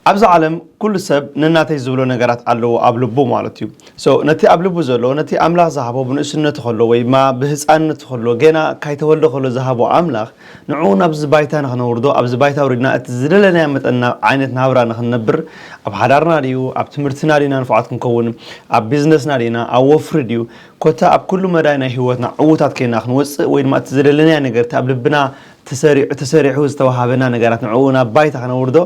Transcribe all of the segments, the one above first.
ኣብዚ ዓለም ኩሉ ሰብ ንናተይ ዝብሎ ነገራት ኣለዎ ኣብ ልቡ ማለት እዩ so ነቲ ኣብ ልቡ ዘሎ ነቲ ኣምላኽ ዝሃቦ ብንእስነቱ ከሎ ወይ ድማ ብህጻንነቱ ከሎ ጌና ካይተወልደ ከሎ ዝሃቦ ኣምላኽ ንዕኡ ናብዚ ባይታ ንኽነውርዶ ኣብዚ ባይታ ኣውሪድና እቲ ዝደለናዮ መጠን ናብ ዓይነት ናብራ ንኽንነብር ኣብ ሓዳርና ድዩ ኣብ ትምህርትና ዲና ንፉዓት ክንከውን ኣብ ቢዝነስና ዲና ኣብ ወፍሪ ድዩ ኮታ ኣብ ኩሉ መዳይ ናይ ህይወትና ዕዉታት ኬና ክንወጽእ ወይ ድማ እቲ ዝደለናዮ ነገር እቲ ኣብ ልብና ተሰሪዑ ተሰሪሑ ዝተዋሃበና ነገራት ንዕኡ ናብ ባይታ ክነውርዶ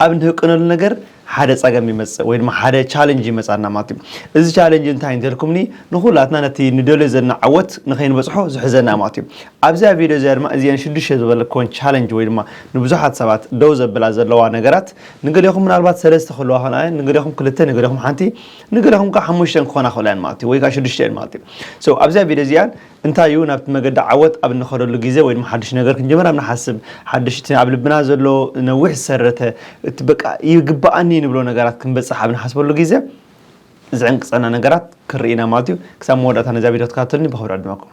ኣብ ንህቅነሉ ነገር ሓደ ጸገም ይመጽእ ወይ ድማ ሓደ ቻለንጅ ይመጻና ማለት እዩ። እዚ ቻለንጅ እንታይ እንተልኩምኒ ንኹላትና ነቲ ንደልዮ ዘለና ዓወት ንኸይንበጽሖ ዝሕዘና ማለት እዩ። ኣብዚኣ ቪድዮ እዚኣ ድማ እዚኤን ሽዱሽተ ዝበለክወን ቻለንጅ ወይ ድማ ንብዙሓት ሰባት ደው ዘብላ ዘለዋ ነገራት ንገሌኹም ምናልባት ሰለስተ ክህልዋ ይኽእላ እየን፣ ንገሌኹም ክልተ፣ ንገሌኹም ሓንቲ፣ ንገሌኹም ከኣ ሓሙሽተ ክኾና ይኽእላ እየን ማለት እዩ ወይ ከኣ ሽዱሽተ እየን ማለት እዩ። So ኣብዚኣ ቪድዮ እዚኣ እንታይ እዩ ናብቲ መገዲ ዓወት ኣብ እንኸደሉ ግዜ ወይ ድማ ሓድሽ ነገር ክንጅምር ኣብ ንሓስብ ሓድሽ እቲ ኣብ ልብና ዘሎ ነዊሕ ዝሰረተ እቲ በቃ ይግበኣኒ ንብሎ ነገራት ክንበጽሕ ኣብ ንሓስበሉ ግዜ ዝዕንቅጸና ነገራት ክንርኢ ኢና ማለት እዩ። ክሳብ መወዳእታ ነዚኣ ቪድዮ ተከታተሉኒ ብክብሪ ዕድመኩም።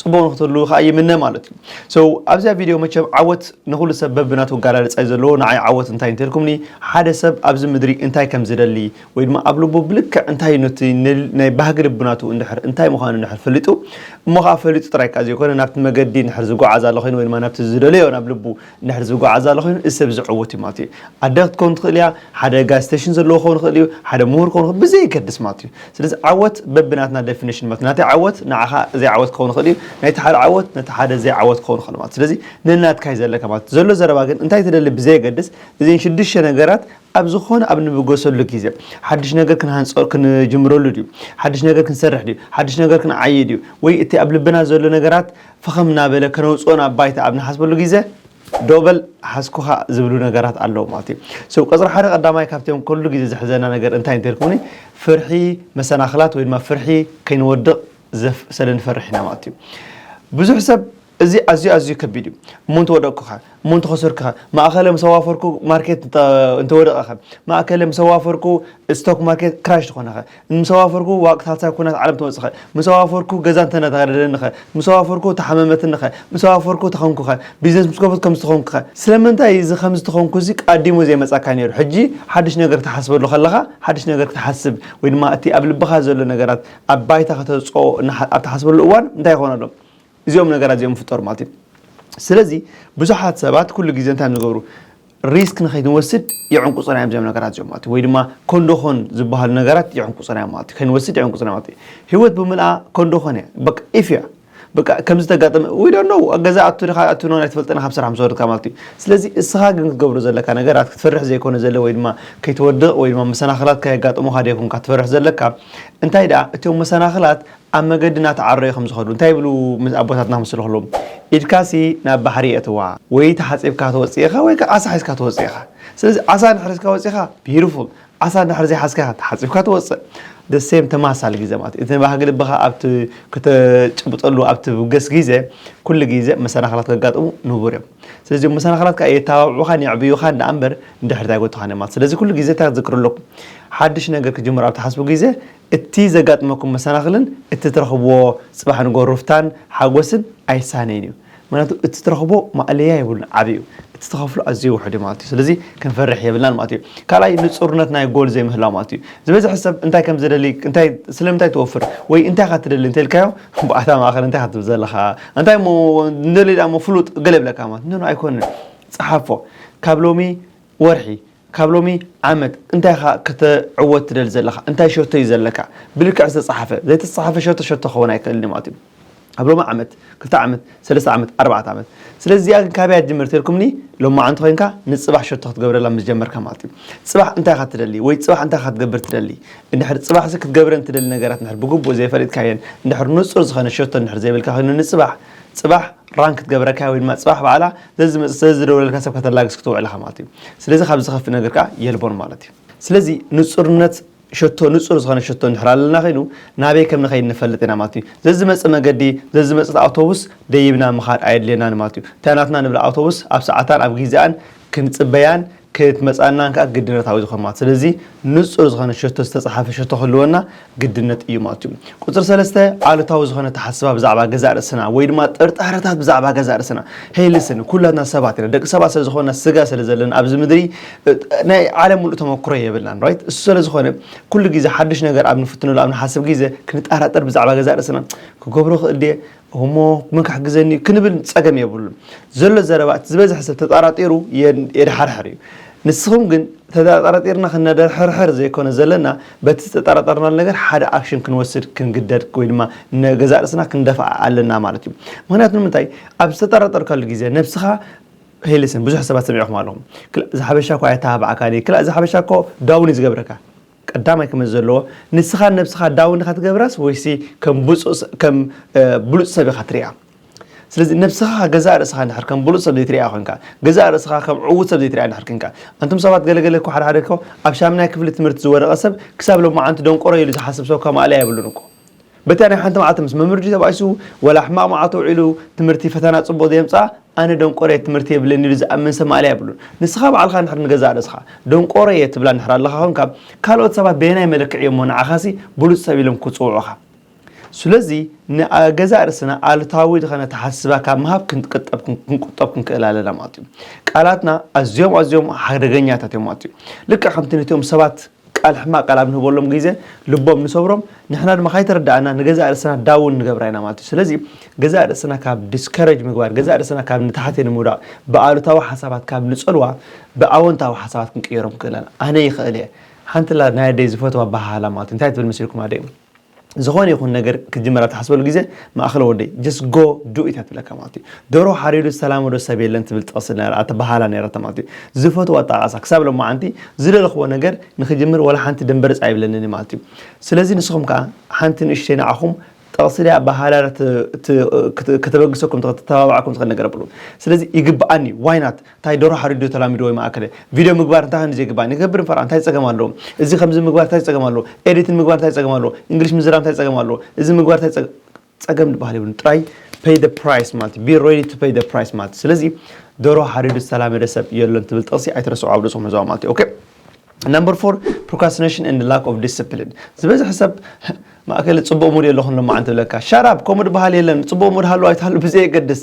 ጽቡቕ ንክትህልዉ ከኣ ይምነ ማለት እዩ so ኣብዚኣ ቪድዮ መቸም ዓወት ንኹሉ ሰብ በብናቱ ኣጋላልጻ እዩ ዘለዎ ንዓይ ዓወት እንታይ እንተልኩምኒ ሓደ ሰብ ኣብዚ ምድሪ እንታይ ከም ዝደሊ ወይ ድማ ኣብ ልቡ ብልክዕ እንታይ እዩ ነቲ ናይ ባህጊ ልብናቱ እንድሕር እንታይ ምዃኑ እንድሕር ፈሊጡ እሞ ከኣ ፈሊጡ ጥራይ ከኣ ዘይኮነ ናብቲ መገዲ እንድሕር ዝጓዓዝ ኣሎ ኮይኑ ወይ ድማ ናብቲ ዝደለዮ ናብ ልቡ እንድሕር ዝጎዓዝ ኣሎ ኮይኑ እዚ ሰብ እዚ ዕዉት እዩ ማለት እዩ። ኣደ ክትከውን ትኽእል እያ፣ ሓደ ጋዝ ስተሽን ዘለዎ ክኸውን ይኽእል እዩ፣ ሓደ ምሁር ክኸውን ይኽእል ብዘየገድስ ማለት እዩ። ስለዚ ዓወት በብናትና ደፊነሽን ማለት እዩ። ናተይ ዓወት ንዓኻ ዘይዓወት ክኸውን ይኽእል እዩ፣ ናይቲ ሓደ ዓወት ነቲ ሓደ ዘይዓወት ክኸውን ይኽእል ማለት እዩ። ስለዚ ነናትካ እዩ ዘለካ ማለት እዩ። ዘሎ ዘረባ ግን እንታይ ትደሊ ብዘየገድስ እዘን ሽዱሽተ ነገራት ኣብ ዝኾነ ኣብ ንብገሰሉ ግዜ ሓድሽ ነገር ክንሃንጾ ክንጅምረሉ ድዩ፣ ሓድሽ ነገር ክንሰርሕ ድዩ፣ ሓድሽ ነገር ክንዓዪ ድዩ ወይ እቲ ኣብ ልብና ዘሎ ነገራት ፈኸም እናበለ ከነውፅኦ ናብ ባይታ ኣብ ንሓስበሉ ግዘ ዶ በል ሓዝኩኻ ዝብሉ ነገራት ኣለዉ ማለት እዩ። So ቁፅሪ ሓደ ቀዳማይ ካብቶም ኩሉ ግዘ ዘሕዘና ነገር እንታይ እንተልኩምኒ ፍርሒ መሰናኽላት ወይ ድማ ፍርሒ ከይንወድቕ ዘፍ ስለንፈርሕ ኢና ማለት እዩ። ብዙሕ ሰብ እዚ ኣዝዩ ኣዝዩ ከቢድ እዩ እሞ እንተወደቕኩኸ እሞ እንተኸሰርኩኸ? ማእከለ ምስ ኣዋፈርኩ ማርኬት እንተወደቐኸ? ማእከለ ምስ ኣዋፈርኩ ስቶክ ማርኬት ክራሽ ተኾነኸ? ምስ ኣዋፈርኩ ዋቅታታ ኩናት ዓለም ተወጽኸ? ምስ ኣዋፈርኩ ገዛ እንተነታደደኒኸ? ምስ ኣዋፈርኩ ተሓመመትኒኸ? ምስ ኣዋፈርኩ ተኸንኩኸ? ቢዝነስ ምስ ከፈትኩ ከምዚ ተኾንኩኸ? ስለምንታይ እዚ ከምዚ ተኾንኩዚ ኣቀዲሙ ዘይመጻካ ኔሩ? ሕጂ ሓድሽ ነገር ክትሓስበሉ ከለኻ ሓድሽ ነገር ክትሓስብ ወይ ድማ እቲ ኣብ ልብኻ ዘሎ ነገራት ኣብ ባይታ ከተውጽኦ ኣብ ትሓስበሉ እዋን እንታይ ይኾን ኣሎ? እዚኦም ነገራት እዚኦም ይፍጠሩ ማለት እዩ ስለዚ ብዙሓት ሰባት ኩሉ ግዜ እንታይ ንገብሩ ሪስክ ንኸይንወስድ የዕንቁፅና እዮም እዚኦም ነገራት እዚኦም ማለት ወይ ድማ ኮንዶኾን ዝበሃሉ ነገራት የዕንቁፅና እዮም ማለት ከይንወስድ የዕንቁፅና ማለት እዩ ህይወት ብምልኣ ኮንዶኾን እያ በቃ ኢፍ እያ በቃ ከምዚ ተጋጠመ ወይ ደኖ ኣብ ገዛ ኣቱ ድካ ኣቱ ኖን ኣይትፈልጥን ካብ ስራሕ ምስ ወረድካ ማለት እዩ ስለዚ እስኻ ግን ክትገብሮ ዘለካ ነገራት ክትፈርሕ ዘይኮነ ዘለ ወይ ድማ ከይትወድቕ ወይ ድማ መሰናኽላት ከየጋጥሙካ ደይኮንካ ትፈርሕ ዘለካ እንታይ ደኣ እቶም መሰናኽላት ኣብ መገዲ እናተዓረዩ ከም ዝኸዱ እንታይ ይብሉ ኣቦታትና ምስ ለኽሎም ኢድካሲ ናብ ባሕሪ የእትዋ ወይ ተሓጺብካ ትወጽእ ኢኻ ወይ ከኣ ዓሳ ሒዝካ ትወጽእ ኢኻ ስለዚ ዓሳ እንድሕር ሒዝካ ወጺኻ ቢዩቲፉል ዓሳ እንድሕር ዘይሓዝካ ተሓጺብካ ትወጽእ the same ተመሳሳሊ ግዜ ማለት እዩ እቲ ባህጊ ልብኻ ኣብቲ ከተጭብጠሉ ኣብቲ ውገስ ግዜ ኩሉ ግዜ መሰናኽላት ከጋጥሙ ንቡር እዮም ስለዚ እዞም መሰናኽላት ከዓ የታባብዑኻን የዕብዩኻን ደኣ እምበር ንድሕሪት ኣይጎትኻን እዮም ማለት ስለዚ ኩሉ ግዜ እንታይ ክትዝክሩ ኣለኩም ሓድሽ ነገር ክጅምሩ ኣብ ትሓስቡ ግዜ እቲ ዘጋጥመኩም መሰናኽልን እቲ ትረኽብዎ ጽባሕ ንግሆ ሩፍታን ሓጎስን ኣይሳነይን እዩ። ምኽንያቱ እቲ ትረኽቦ ማእለያ የብሉን ዓቢ እዩ። እቲ ትኸፍሎ ኣዝዩ ውሑድ እዩ ማለት እዩ። ስለዚ ክንፈርሕ የብልናን ማለት እዩ። ካልኣይ ንጹርነት ናይ ጎል ዘይምህላው ማለት እዩ። ዝበዝሐ ሰብ እንታይ ከም ዝደሊ እንታይ ስለምንታይ ትወፍር ወይ እንታይ ኢኻ ትደሊ እንተኢልካዮ ብኣታ ማእከል እንታይ ኢኻ ትብል ዘለኻ እንታይ እሞ ንደሊ ድኣ እሞ ፍሉጥ ገለ ይብለካ ማለት ኖኖ ኣይኮነን ጽሓፎ ካብ ሎሚ ወርሒ ካብ ሎሚ ዓመት እንታይ ኢኻ ከተዕወት ትደሊ ዘለኻ? እንታይ ሸቶ እዩ ዘለካ? ብልክዕ ዝተጻሓፈ፣ ዘይተጻሓፈ ሸቶ ሸቶ ክኸውን ኣይክእልን እዩ ማለት እዩ። ኣብ ሎሚ ዓመት፣ ክልተ ዓመት፣ ሰለስተ ዓመት፣ ኣርባዕተ ዓመት። ስለዚ እዚኣ ግን ካበይ እያ ትጅምር እንተልኩምኒ፣ ሎማዓንቲ ኮይንካ ንጽባሕ ሸቶ ክትገብረላ ምስ ጀመርካ ማለት እዩ። ጽባሕ እንታይ ኢኻ ትደሊ ወይ ጽባሕ እንታይ ኢኻ ክትገብር ትደሊ? እንድሕር ጽባሕሲ ክትገብረን ትደሊ ነገራት እንድሕር ብግቡእ ዘይፈሊጥካየን፣ እንድሕር ንጹር ዝኾነ ሸቶ እንድሕር ዘይብልካ ኮይኑ ንጽባሕ፣ ጽባሕ፣ ራንክ ክትገብረካ ወይ ድማ ፅባሕ ባዕላ ዘዝመፅ ስለዝደውለልካ ሰብ ከተላግስ ክትውዕል ኢኻ ማለት እዩ ስለዚ ካብ ዝኸፍእ ነገር ከዓ የልቦን ማለት እዩ ስለዚ ንፁርነት ሸቶ ንፁር ዝኾነ ሸቶ እንድሕር ኣለና ኮይኑ ናበይ ከም ንኸይድ ንፈልጥ ኢና ማለት እዩ ዘዝመፅ መገዲ ዘዝመፅት ኣውቶቡስ ደይብና ምኻድ ኣየድልየናን ማለት እዩ እታ ናትና ንብላ ኣውቶቡስ ኣብ ሰዓታን ኣብ ጊዚኣን ክንጽበያን ክትመጻናን ከኣ ግድነታዊ ዝኾን ማለት ስለዚ ንጹር ዝኾነ ሸቶ ዝተጻሓፈ ሸቶ ክህልወና ግድነት እዩ ማለት እዩ። ቁጽሪ ሰለስተ ኣሉታዊ ዝኾነ ኣተሓስባ ብዛዕባ ገዛእ ርእስና ወይ ድማ ጥርጣረታት ብዛዕባ ገዛእ ርእስና ሄይ ልስን ኩላትና ሰባት ኢና ደቂ ሰባት ስለ ዝኾንና ስጋ ስለ ዘለና ኣብዚ ምድሪ ናይ ዓለም ምሉእ ተመክሮ የብልናን ራይት እሱ ስለ ዝኾነ ኩሉ ግዜ ሓድሽ ነገር ኣብ ንፍትነሉ ኣብ ንሓስብ ግዜ ክንጠራጠር ብዛዕባ ገዛእ ርእስና ክገብሮ ክእል ድየ እሞ መን ክሕግዘኒ እዩ ክንብል ጸገም የብሉን። ዘሎ ዘረባ እቲ ዝበዝሐ ሰብ ተጣራጢሩ የድሓርሕር እዩ። ንስኹም ግን ተጣራጢርና ክነደርሕርሕር ዘይኮነ ዘለና በቲ ዝተጣራጠርናሉ ነገር ሓደ ኣክሽን ክንወስድ ክንግደድ ወይ ድማ ንገዛእ ርእስና ክንደፍኣ ኣለና ማለት እዩ። ምክንያቱ ንምንታይ ኣብ ዝተጠራጠርካሉ ግዜ ነብስኻ ሄልስን ብዙሕ ሰባት ሰሚዕኹም ኣለኹም ክላ ዝሓበሻ እኳ ኣይተባባዕካን ክላ ዝሓበሻ እኮ ዳውን እዩ ዝገብረካ ቀዳማይ ክመጽእ ዘለዎ ንስኻ ንነብስኻ ዳውን ኢኻ ትገብራስ ወይሲ ከም ብጹእ ከም ብሉጽ ሰብ ኢኻ ትሪኣ ስለዚ ነብስኻ ገዛእ ርእስኻ እንድሕር ከም ብሉጽ ሰብ ዘይትሪኣ ኮንካ ገዛእ ርእስኻ ከም ዕዉት ሰብ ዘይትሪኣ እንድሕር ኮንካ ኣንቱም ሰባት ገለገለ እኮ ሓደ ሓደ እኮ ኣብ ሻምናይ ክፍሊ ትምህርቲ ዝወደቐ ሰብ ክሳብ ሎማዓንቲ ደንቆሮ ኢሉ ዝሓስብ ሰብ እኳ ማእለያ የብሉን እኮ በታ ናይ ሓንቲ መዓልቲ ምስ መምርዲ ተባኢሱ ወላ ሕማቕ መዓልቲ ውዒሉ ትምህርቲ ፈተና ጽቡቕ ዘየምጽኣ ኣነ ደንቆሮ እየ ትምህርቲ የብለይን ኢሉ ዝኣምን ሰብ ማእለያ የብሉን። ንስኻ ባዕልኻ እንድሕር ንገዛእ ርእስኻ ደንቆሮ እየ ትብላ እንድሕር ኣለኻ ኮንካ ካልኦት ሰባት በየናይ መለክዒ እዮም'ሞ ንዓኻሲ ብሉጽ ሰብ ኢሎም ክጽውዑኻ? ስለዚ ንገዛእ ርእስና ኣሉታዊ ዝኸነ ኣተሓሳስባ ካብ ምሃብ ክንቅጠብ ክንቁጠብ ክንክእል ኣለና ማለት እዩ። ቃላትና ኣዝዮም ኣዝዮም ሓደገኛታት እዮም ማለት እዩ። ልክዕ ከምቲ ነቲኦም ሰባት ቃል ሕማቅ ቃል ኣብ ንህበሎም ግዜ ልቦም ንሰብሮም ንሕና ድማ ካይተረዳኣና ንገዛእ ርእስና ዳውን ንገብራ ኢና ማለት እዩ ስለዚ ገዛእ ርእስና ካብ ዲስከረጅ ምግባር ገዛእ ርእስና ካብ ንታሕቲ ንምውዳቅ ብኣሉታዊ ሓሳባት ካብ ንጸልዋ ብኣወንታዊ ሓሳባት ክንቅይሮም ክእለና ኣነ ይክእል እየ ሓንቲ ኣላ ናይ ኣደይ ዝፈትዋ ኣበሃህላ ማለት እዩ እንታይ ትብል መሲልኩም ኣደይ ዝኮነ ይኩን ነገር ክትጅምር ኣብ ትሓስበሉ ግዜ ማእከል ወደይ just go do it እያ ትብለካ ማለት እዩ ደርሆ ሓሪዱ ዝተላመዶ ሰብ የለን ትብል ጥቅሲ ነራ ኣተባሃላ ነራታ ማለት እዩ ዝፈትዎ ኣጠቃቅሳ ክሳብ ሎማዓንቲ ዝደለክዎ ነገር ንክጅምር ዋላ ሓንቲ ደምበርጽ ኣይብለንን እዩ ማለት እዩ ስለዚ ንስኩም ከኣ ሓንቲ ንእሽተይ ንዓኩም ጥቅሲ ድያ ኣበሃህላ ድያ ከተበግሰኩም ትክእል ትተባብዓኩም ትክእል ነገር ኣብሉ ስለዚ ይግብኣኒ why not ታይ ደርሆ ሓሪዱ ተላሚድዎ ዩ ማኣከለ ቪድዮ ምግባር እንታይ ከምዚ ዘይግባእ ንገብር ንፈርዖ እንታይ ጸገም ኣለዎ እዚ ከምዚ ምግባር ታይ ጸገም ኣለዎ ኤዲት ንምግባር ታይ ጸገም ኣለዎ እንግሊሽ ምዝራብ እንታይ ጸገም ኣለዎ እዚ ምግባር ታይ ጸገም ጸገም ድበሃል የብሉን ጥራይ pay the price ማለት እዩ be ready to pay the price ማለት እዩ ስለዚ ደርሆ ሓሪዱ ዝተላመደ ሰብ የሎን ትብል ጥቕሲ ኣይትረስዑ ኣብ ርእስኹም ሕዝዋ ማለት እዩ ኦኬ ነምበር ፎር ፕሮካስቲኔሽን ኤንድ ላክ ኦፍ ዲስፕሊን ዝበዝሐ ሰብ ማእከል ፅቡቅ ሙድ የለኹን ሎማዓንቲ ብለካ ሻራብ ከምኡ ድበሃል የለን ፅቡቅ ሙድ ሃሉ ኣይትሃሉ ብዘየገድስ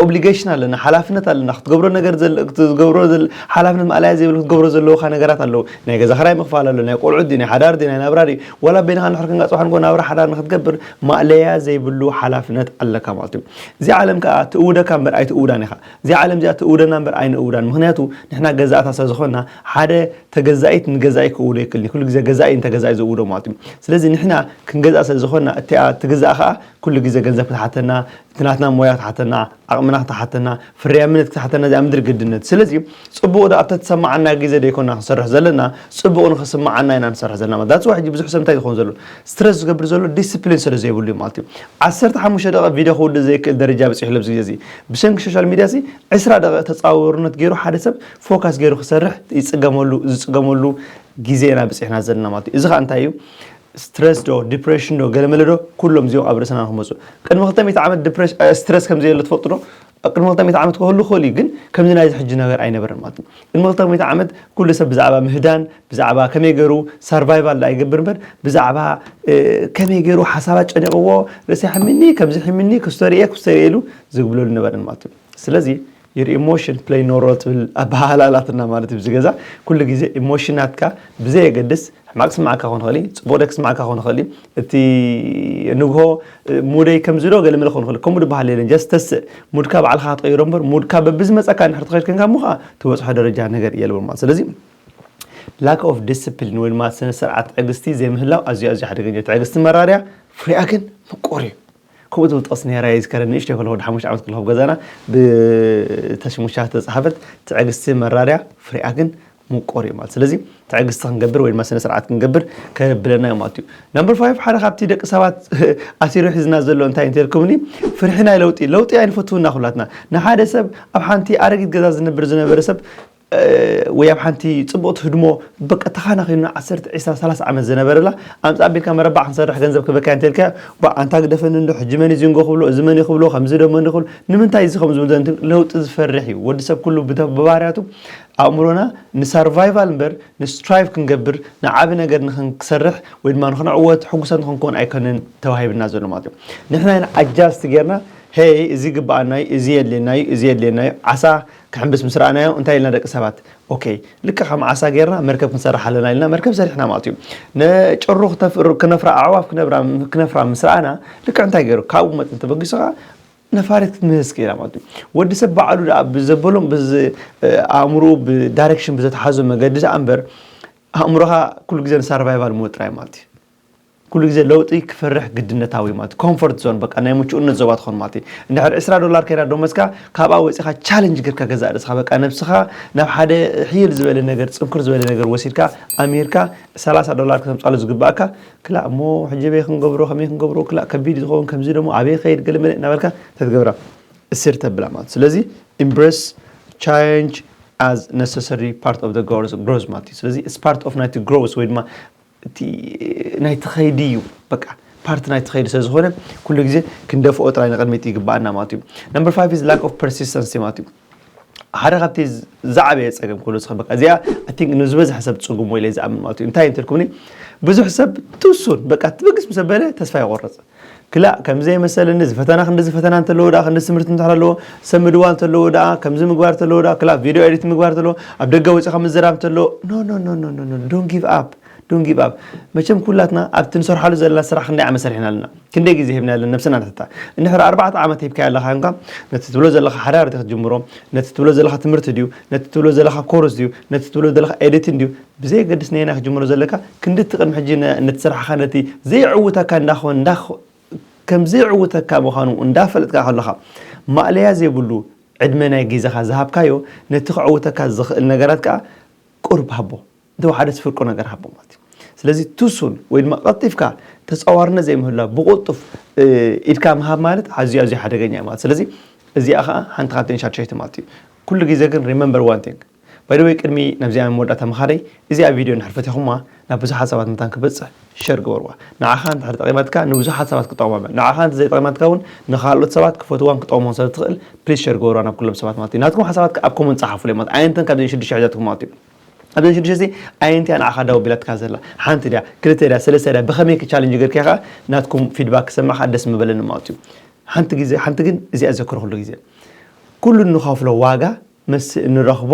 ኦብሊጌሽን ኣለና ሓላፍነት ኣለና ክትገብሮ ነገር ትገብሮ ሓላፍነት ማእላያ ዘይብል ክትገብሮ ዘለውካ ነገራት ኣለዉ ናይ ገዛ ክራይ ምኽፋል ኣሎ ናይ ቆልዑት ድዩ ናይ ሓዳር ድዩ ናይ ናብራ ድዩ ዋላ በይንኻ ንሕር ክንጋ ፅባሕ ንጎ ናብራ ሓዳር ንክትገብር ማእለያ ዘይብሉ ሓላፍነት ኣለካ ማለት እዩ እዚ ዓለም ከዓ ትእውደካ እምበር ኣይትእውዳን ኢኻ እዚኣ ዓለም እዚኣ ትእውደና እምበር ኣይንእውዳን ምኽንያቱ ንሕና ገዛእታ ስለ ዝኾንና ሓደ ተገዛኢት ንገዛኢ ክእውዶ ኣይክእልን እዩ ኩሉ ግዜ ገዛኢ እዩ ንተገዛኢ ዝእውዶ ማለት እዩ ስለዚ ንሕና ክንገዝኣ ስለ ዝኾንና እቲኣ ትግዛእ ከኣ ኩሉ ግዜ ገንዘብ ክትሓተና እቲ ናትና ሞያ ክትሓተና ዓቕምና ክትሓተና ፍርያምነት ክትሓተና እዚኣ ምድሪ ግድነት ስለዚ ጽቡቕ ዶ ኣብታ ትሰማዓና ግዜ ዶ ኣይኮና ክንሰርሕ ዘለና ጽቡቕ ንኽስማዓና ኢና ንሰርሕ ዘለና ማለት ዳትስ ዋይ ሕጂ ብዙሕ ሰብ እንታይ ዝኸውን ዘሎ ስትረስ ዝገብር ዘሎ ዲስፕሊን ስለ ዘይብሉ እዩ ማለት እዩ ዓሰርተ ሓሙሽተ ደቒቕ ቪድዮ ክውድእ ዘይክእል ደረጃ በጺሑ ኣሎ ኣብዚ ግዜ እዚ ብሰንኪ ሾሻል ሚድያ'ዚ ዕስራ ደቒቕ ተጻዋውርነት ገይሩ ሓደ ሰብ ፎካስ ገይሩ ክሰርሕ ይጽገመሉ ዝጽገመሉ ግዜ ኢና በጺሕና ዘለና ማለት እዩ። እዚ ከኣ እንታይ እዩ ስትረስ ዶ ዲፕረሽን ዶ ገለመለ ዶ ኩሎም እዚኦም ኣብ ርእስና ንክመጹ ቅድሚ ክልተ ሚእቲ ዓመት ዲፕረሽ ስትረስ ከም ዘየለ ትፈልጡ ዶ ቅድሚ ክልተ ሚእቲ ዓመት ክህሉ ክእል እዩ ግን ከምዚ ናይዚ ሕጂ ነገር ኣይነበረን ማለት እዩ። ቅድሚ ክልተ ሚእቲ ዓመት ኩሉ ሰብ ብዛዕባ ምህዳን ብዛዕባ ከመይ ገሩ ሳርቫይቫል ደኣ ይገብር እምበር ብዛዕባ ከመይ ገሩ ሓሳባት ጨኒቕዎ ርእሲ ሕሚኒ ከምዚ ሕሚኒ ክስቶ ርእየ ክስቶ ርእየ ኢሉ ዝግብለሉ ነበረን ማለት እዩ ስለዚ ዩር ኢሞሽን ፕለይ ኖ ሮል ትብል ኣበሃህላ ኣላትና ማለት እዩ እዚ ገዛ ኩሉ ግዜ ኢሞሽናትካ ብዘየገድስ ሕማቅ ክስምዓካ ክኾን ይኽእል እዩ ፅቡቅ ዶ ክስምዓካ ክኾን ይኽእል እዩ እቲ ንግሆ ሙደይ ከምዚ ዶ ገለ መለ ክኾን ይኽእል ከምኡ ድበሃል የለን ጀስ ተስእ ሙድካ ባዕልካ ክትቀይሮ እምበር ሙድካ በብዝመፀካ ንሕርቲ ከይድ ከንካ እሞ ከዓ ትበፅሖ ደረጃ ነገር የልቦ ማለት ስለዚ Lack of discipline ወይ ድማ ስነ ስርዓት ትዕግስቲ ዘይምህላው ኣዝዩ ኣዝዩ ሓደገኛ ትዕግስቲ መራርያ ፍሪኣ ግን ምቁር እዩ ከምኡ ዝብል ጥቕሲ ነራ ይዝከረ ንእሽተይ ከለኹ ወዲ ሓሙሽተ ዓመት ከለኹ ገዛና ብተሽሙሻ ተጻሓፈት ትዕግስቲ መራርያ ፍሪኣ ግን ምቁር እዩ ማለት ስለዚ ትዕግስቲ ክንገብር ወይ ድማ ስነ ስርዓት ክንገብር ከብለና እዩ ማለት እዩ ነምበር ፋይቭ ሓደ ካብቲ ደቂ ሰባት ኣሲሩ ሒዝና ዘሎ እንታይ እንተልኩምኒ ፍርሒ ናይ ለውጢ ለውጢ ኣይንፈትውና ኩላትና ንሓደ ሰብ ኣብ ሓንቲ ኣረጊት ገዛ ዝነብር ዝነበረ ሰብ ወይ ኣብ ሓንቲ ጽብቕቲ ህድሞ በቃ ተኻናኺኑና ዓሰርተ፣ ዒስራ፣ ሰላሳ ዓመት ዝነበረላ ኣምጽእ ኣቢልካ መረባዕ ክንሰርሕ ገንዘብ ክህበካ'የ እንተልካዮ ቧእ ኣንታ ግደፈኒ እንዶ ሕጂ መን'ዩ ዚንጎ ክብሎ እዚ መን'ዩ ክብሎ ከምዚ'ዶ መን'ዩ ክብሎ ንምንታይ እዚ ከምዚ ዝብል ዘሎ ለውጢ ዝፈርሕ'ዩ ወዲ ሰብ ኩሉ ብባህርያቱ ኣእምሮና ንሳርቫይቫል እምበር ንስትራይቭ ክንገብር ንዓቢ ነገር ንኽንሰርሕ ወይ ድማ ንኽንዕወት ሕጉሳት ንኽንከውን ኣይኮነን ተዋሂብና ዘሎ ማለት እዩ ንሕና ኢና ኣጃስት ጌርና ሄይ እዚ ይግብኣና'ዩ እዚ የድልየና'ዩ እዚ የድልየና'ዩ ዓሳ ክሕምብስ ምስ ረኣናዮ እንታይ ኢልና ደቂ ሰባት ኦከይ ልክዕ ከም ዓሳ ጌርና መርከብ ክንሰርሕ ኣለና ኢልና መርከብ ሰሪሕና ማለት እዩ። ንጭሩ ክነፍራ ኣዕዋፍ ክነፍራ ምስ ረኣና ልክዕ እንታይ ገይሩ ካብኡ መጠን ተበጊሱ ከኣ ነፋሪት ክትምህዝ ክኢላ ማለት እዩ። ወዲ ሰብ ባዕሉ ደኣ ብዘበሎም ብዝ ኣእምርኡ ብዳይሬክሽን ብዘተሓዞ መገዲ ደኣ እምበር ኣእምሮኻ ኩሉ ግዜ ንሳርቫይቫል ሞድ ጥራይ ማለት እዩ። ኩሉ ግዜ ለውጢ ክፈርሕ ግድነታዊ ማለት እዩ ኮንፎርት ዞን በቃ ናይ ምቹእነት ዞባ ትኾን ማለት እዩ እንድሕር ዕስራ ዶላር ከይዳ ዶመዝካ ካብኣ ወጺኻ ቻለንጅ ጌርካ ገዛእ ርእስኻ በቃ ነብስኻ ናብ ሓደ ሕይል ዝበለ ነገር ጽንኩር ዝበለ ነገር ወሲድካ ኣምሂርካ ሰላሳ ዶላር ከተምጻሉ ዝግብኣካ ክላእ እሞ ሕጂ በይ ክንገብሮ ከመይ ክንገብሮ ክላእ ከቢድ እዩ ዝኸውን ከምዚ ደሞ ኣበይ ክኸይድ ገለ መለ እናበልካ ተትገብራ እሲር ተብላ ማለት ስለዚ ኢምብረስ ቻለንጅ as necessary part of the growth ማለት እዩ ስለዚ it's part of ናይቲ growth ወይ ድማ እቲ ናይቲ ከይዲ እዩ በቃ ፓርቲ ናይቲ ከይዲ ስለዝኾነ ኩሉ ግዜ ክንደፍኦ ጥራይ ንቕድሚት ይግባኣና ማለት እዩ ነምበር ፋይቭ ኢዝ ላክ ኦፍ ፐርሲስተንሲ ማለት እዩ ሓደ ካብቲ ዝዓበየ ፀገም ክብሎ ዝኽእል በቃ እዚኣ ኣይ ቲንክ ንዝበዝሐ ሰብ ፅጉም ወይ ኢለ ዝኣምን ማለት እዩ እንታይ እንተልኩምኒ ብዙሕ ሰብ ትሱን በቃ ትብግስ ምስ ኣበለ ተስፋ ይቆርፅ ክላእ ከምዚ ኣይመሰለኒ እዚ ፈተና ክንድዚ ፈተና እንተለዎ ደኣ ክንድዚ ትምህርቲ እንድሕር ኣለዎ ሰብ ምድዋል እንተለዎ ደኣ ከምዚ ምግባር እንተለዎ ደኣ ክላእ ቪድዮ ኤዲት ምግባር እንተለዎ ኣብ ደገ ወጺኻ ምዝራብ እንተለዎ ኖ ኖ ኖ ኖ ኖ ዶን ጊቭ ኣፕ ዶን ጊቭ ኣፕ መቸም ኩላትና ኣብቲ ንሰርሓሉ ዘለና ስራሕ ክንደይ ዓመት ሰሪሕና ኣለና ክንደይ ግዜ ሂብና ኣለና ነብስና ንሕታ እንድሕር ኣርባዕተ ዓመት ሂብካዮ ኣለካ እንካ ነቲ ትብሎ ዘለካ ሓዳር እቲ ክትጅምሮ ነቲ ትብሎ ዘለካ ትምህርቲ ድዩ ነቲ ትብሎ ዘለካ ኮርስ ድዩ ነቲ ትብሎ ዘለካ ኤዲትን ድዩ ብዘየገድስ ነየናይ ክትጅምሮ ዘለካ ክንዲ እቲ ቅድሚ ሕጂ ነቲ ስራሕኻ ነቲ ዘየዕውተካ እንዳ ከም ዘየዕውተካ ምዃኑ እንዳፈለጥካ ከሎኻ ማእለያ ዘይብሉ ዕድመ ናይ ግዜኻ ዝሃብካዮ ነቲ ከዕውተካ ዝኽእል ነገራት ከኣ ቁሩብ ሃቦ እንተወሓደስ ፍርቁ ነገር ሃቦ ማለት እዩ ስለዚ too soon ወይ ድማ ቀልጢፍካ ተጻዋርነት ዘይምህላው ብቁልጡፍ ኢድካ ምሃብ ማለት ኣዝዩ ኣዝዩ ሓደገኛ እዩ ማለት ስለዚ እዚኣ ከኣ ሓንቲ ካብተን ሻድሸይቲ ማለት እዩ ኩሉ ግዜ ግን remember one thing ባይ ዘ ዌይ ቅድሚ ናብዚኣ መወዳእታ ምኻደይ እዚኣ ቪድዮ እንድሕር ፈቲኹማ ናብ ብዙሓት ሰባት መታን ክበጽሕ ሸር ግበርዋ ንዓኻ እንድሕር ጠቒማትካ ንብዙሓት ሰባት ክጠቕሞም እያ ንዓኻ እንተ ዘይጠቒማትካ እውን ንኻልኦት ሰባት ክፈትዋን ክጠቕሞም ስለ ትኽእል ፕሊስ ሸር ግበርዋ ናብ ኩሎም ሰባት ማለት እዩ ናትኩም ሓሳባት ከኣ ኣብ ኮመንት ጸሓፉለይ ማለት ኣየንተን ካብዘን ሽዱሽተ ሒዛትኩም ማለት እዩ ኣብዘን ሽዱሽተ እዚ ኣየንቲ እያ ንዓኻ ዳው ቢላትካ ዘላ ሓንቲ ድያ ክልተ ድያ ሰለስተ ድያ ብኸመይ ክቻለንጅ ገርክያ ከኣ ናትኩም ፊድባክ ክሰምዕ ከኣ ደስ ምበለኒ ማለት እዩ ሓንቲ ግዜ ሓንቲ ግን እዚኣ ዘክሮ ኩሉ ግዜ ኩሉ እንኸፍሎ ዋጋ ምስ እንረኽቦ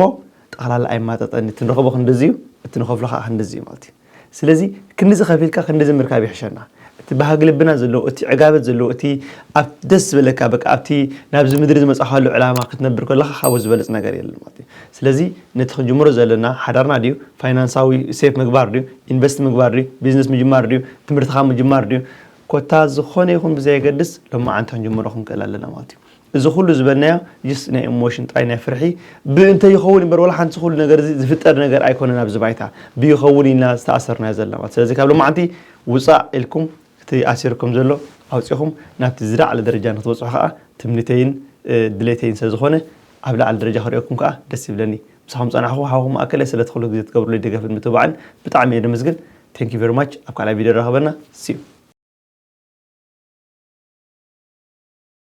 ጠቕላላ ኣይማጠጠን እዩ እቲ ንረኽቦ ክንድዚ እዩ እቲ ንኸፍሎ ካዓ ክንድዚ እዩ ማለት እዩ ስለዚ ክንድዚ ከፊልካ ክንድዚ ምርካብ ይሕሸና እቲ ባህጊ ልብና ዘለዎ እቲ ዕጋበት ዘለዎ እቲ ኣብ ደስ ዝበለካ በቃ ኣብቲ ናብዚ ምድሪ ዝመጻኻሉ ዕላማ ክትነብር ከለኻ ካብኡ ዝበልጽ ነገር የለን ማለት እዩ ስለዚ ነቲ ክንጅምሮ ዘለና ሓዳርና ድዩ ፋይናንሳዊ ሴፍ ምግባር ድዩ ኢንቨስት ምግባር ድዩ ቢዝነስ ምጅማር ድዩ ትምህርትኻ ምጅማር ድዩ ኮታ ዝኾነ ይኹን ብዘየገድስ ሎማዓንቲ ክንጅምሮ ክንክእል ኣለና ማለት እዩ እዚ ኩሉ ዝበልናዮ just ናይ ኢሞሽን ጥራይ ናይ ፍርሒ ብ እንተ ይኸውን እዩ እምበር ዋላ ሓንቲ እዚ ኩሉ ነገር እዚ ዝፍጠር ነገር ኣይኮነን ኣብዚ ባይታ ብ ይኸውን ኢልና ዝተኣሰርናዮ ዘለና ማለት ስለዚ ካብ ሎማዓንቲ ውጻእ ኢልኩም እቲ ኣሲርኩም ዘሎ ኣውጺኹም ናብቲ ዝላዓለ ደረጃ ንክትበጽሑ ከኣ ትምኒተይን ድሌተይን ስለ ዝኾነ ኣብ ላዓሊ ደረጃ ክርእየኩም ከኣ ደስ ይብለኒ ምሳኹም ዝጸናሕኩ ሓውኹም ማኣከለ ስለቲ ኩሉ ግዜ ትገብሩለይ ደገፍን ምትብባዕን ብጣዕሚ እየ ደመስግን thank you very much ኣብ ካልኣይ ቪድዮ የራኽበና see you።